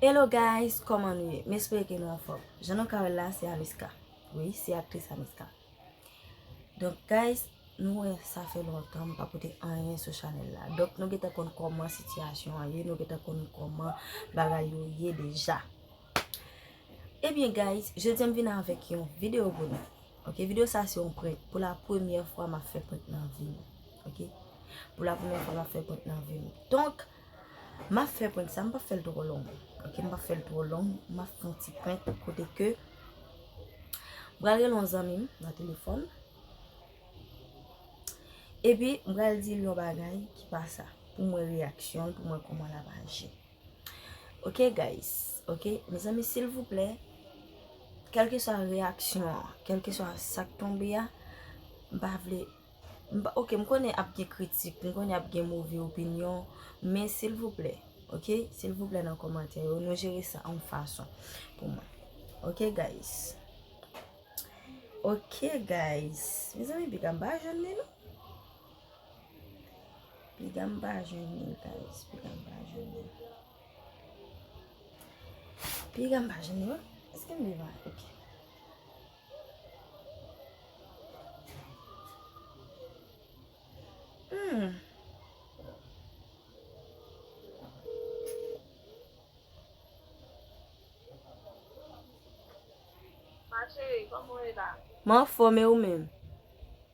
Hello guys kòman nou ye? M espere ke nou anfòm Jan nou ka wè l la se Amiska Wi se aktris Amiska Donk guys nou wè sa fè lontan m pa pote anyen sou chanèl la Donk nou gentan konn kòman sitiyasyon an ye Nou gentan konn kòman bagay yo ye deja Ebyen guys jodi a m vin avèk yon videyo pou nou Ok videyo sa se yon prank Pou la premyè fwa m ap fè prank nan vi m Ok Pou la premyè fwa m ap fè prank nan vi m Donk Map fè prank sa, m pap fèl twò long ok, m pap fèl twò long, map fè yon ti prank kote ke m pral rele yon zanmi m nan telefòn epi m pral dil yon bagay ki pa sa pou m wè reyaksyon l, pou m wè kòman lap aji ok guys, ok mezanmi silvouplè kèlkeswa reyaksyon an, kèlkeswa sak tonbe a m pa vle. Ok m konnen ap gen kritik, m konnen ap gen move opinyon, men silvouplè, ok, silvouplè nan kòmantè yo, nou jere sa yon fason pou mwen. Ok guys. Ok guys. Mezanmi piga m pa jwenn li non. Piga m pa jwenn li guys. Piga m pa jwenn li. Piga m pa jwenn li non. Eske m vivan? Ok. Mwen anfòm e ou menm?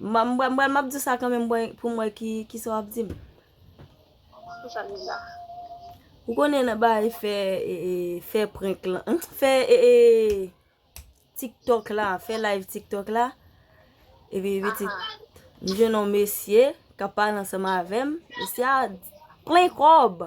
M bwè, m bwè, m ap di w sa kanmenm pou m wè ki sa w ap di m. Pou sa m di w sa? Ou konnen nan bagay fè, fè prenk la, fè tiktok la, fè live tiktok la, epi pitit, m jwenn yon mesye k ap pale ansanm avè m, mesye a plen kòb.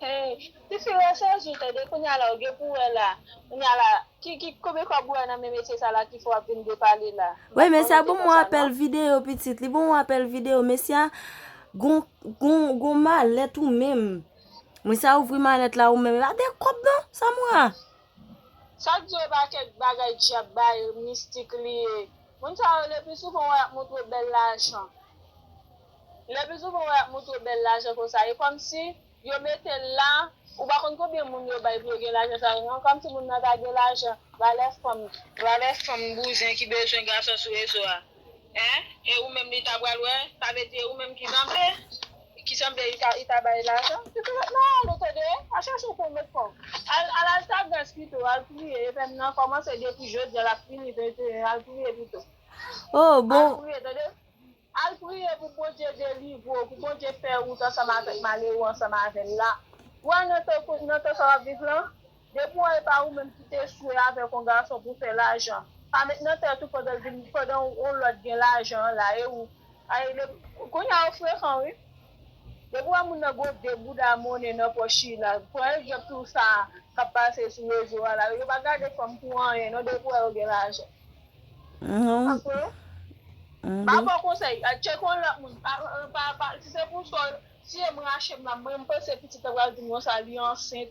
Hey tifi ou resaji tande kounye a la ou gen pou wè la kounye a la ki ki konbyen kob ou wè nan men mesye sa la ki fè wap vin depale la Woy mesye a bon mwen apèl video pitit li bon mwen apèl video mesye a gon gon gon malèt ou menm mwen sa ouvri malèt la ou menm epa de kob non sa mwen a. Sak diw epa kèk bagay dyab bay mistik liye. Moun sa yo le pi souvan wè yap moutre bèl lajan le pi souvan wè yap moutre bèl lajan konsa e kòmsi yo metel la ou pa konn konbyen moun yo bay pou yo gen lajan sa yo non kòmsi moun nan ta gen lajan valè fanm valè fanm bouzen ki bezwen gason sou rezo a hein e ou menm li ta pral wè sa vle di e ou menm ki zanble. Ki sanble li ta bay lajan. Li te met nan ale tande, pa chache pou w met kòb. Al al Altagras pito, al priye epèm nan kòmanse depi jodi a l ap fini 21 al priye pito. Oh bon. Al priye tande. Al priye pou Bondye delivre w, pou Bondye fè wout ansanm avèk malere w ansanm avè l la. Ou wè nan tan sa w ap viv lan. Depi w wè e pa ou menm ki te swe avèk yon gason pou fè lajan, pa met nan tèt ou pandan l vin pandan yon lòt gen lajan an la e ou Ay depi Kounye a ou frekan wi Depi w wè moun nan gwo de bouda monnen nan pòch li la Pran egzanp tou sa k ap pase sou rezo a la Yo pa gade fanm pou anyen non depi w wè yo gen lajan Apre ou Ba bon konsèy Tcheke yon lòt moun Pa Si se pou sa w siye m rache m la Mwen m panse pitit lan pral di m konsa li ansent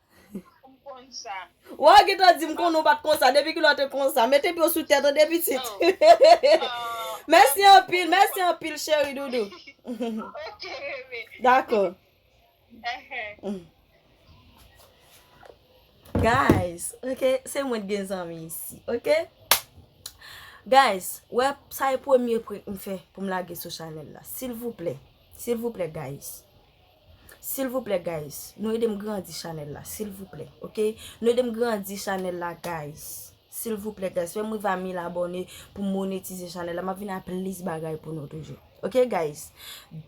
M konn sa. Waw gentan di m konnen ou pat konsa depi kilè w te konsa mete pye w sou tè tande pitit mèsi anpil mèsi anpil cheri doudou ok bebe dakò guys ok se mwen t gen zanmi isi ok guys wè sa e premye prank m fè pou m lage sou chanèl la silvouplè silvouplè guys. Silvouplè guys nou edem grandi chanèl la silvouplè ok nou edem grandi chanèl la guys silvouplè guys fèm rive a 1000 abòne poum monetize chanèl la map vini a plis bagay pou nou toujou ok guys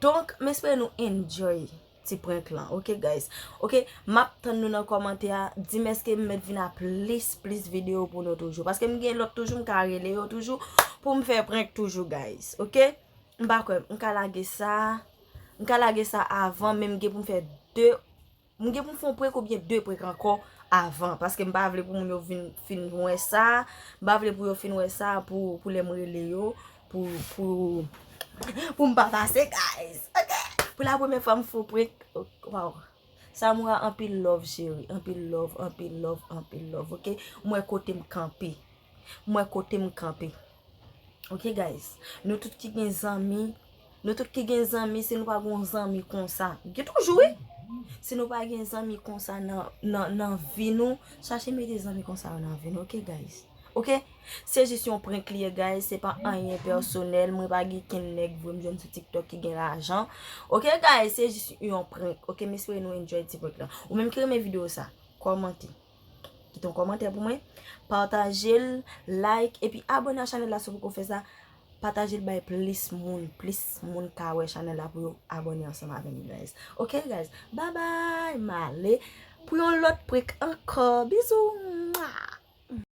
donk m espere nou enjoy ti prank lan ok guys ok map tann nou nan kòmantè a dim eskem met vini a plis plis video pou nou toujou paskem gen lòt toujou m ka rele yo toujou poum fè prank toujou guys ok m pa kwè m ka lage sa. M ka lage sa avan men m gen pou m fè 2 M gen pou m fè yon prank oubyen 2 prank ankò avan paske m pa vle pou moun yo vin fin wè sa M pa vle pou yo fin wè sa pou lè m rele yo pou pou m pa pase guys ok Pou la premye fwa m fè yon prank waw. Samoura anpil love cheri anpil love anpil love anpil love ok m wè kotem kanpe m wè kotem kanpe ok guys nou tout ki gen zanmi nou tout ki gen zanmi si nou pa gon zanmi konsa gen toujou wi si nou pa gen zanmi konsa nan nan nan vi nou chache mete zanmi konsa yo nan vi nou ok guys. Ok se jis yon prank li ye guys se pa anyen personel mwen pa gen ken nèg vre m jwenn sou tiktok ki gen lajan ok guys se jis yon prank ok m espere nou enjoy ti prank lan ou menm ki renmen video sa kòmante kite yon kòmantè pou mwen pataje l like epi abone a chanèl la si w poko fè sa pataje l bay plis moun plis moun ka wè chanèl la pou yo abone ansanm avè m guys ok guys babay m ale pou yon lòt prank ankò bizou mwaa.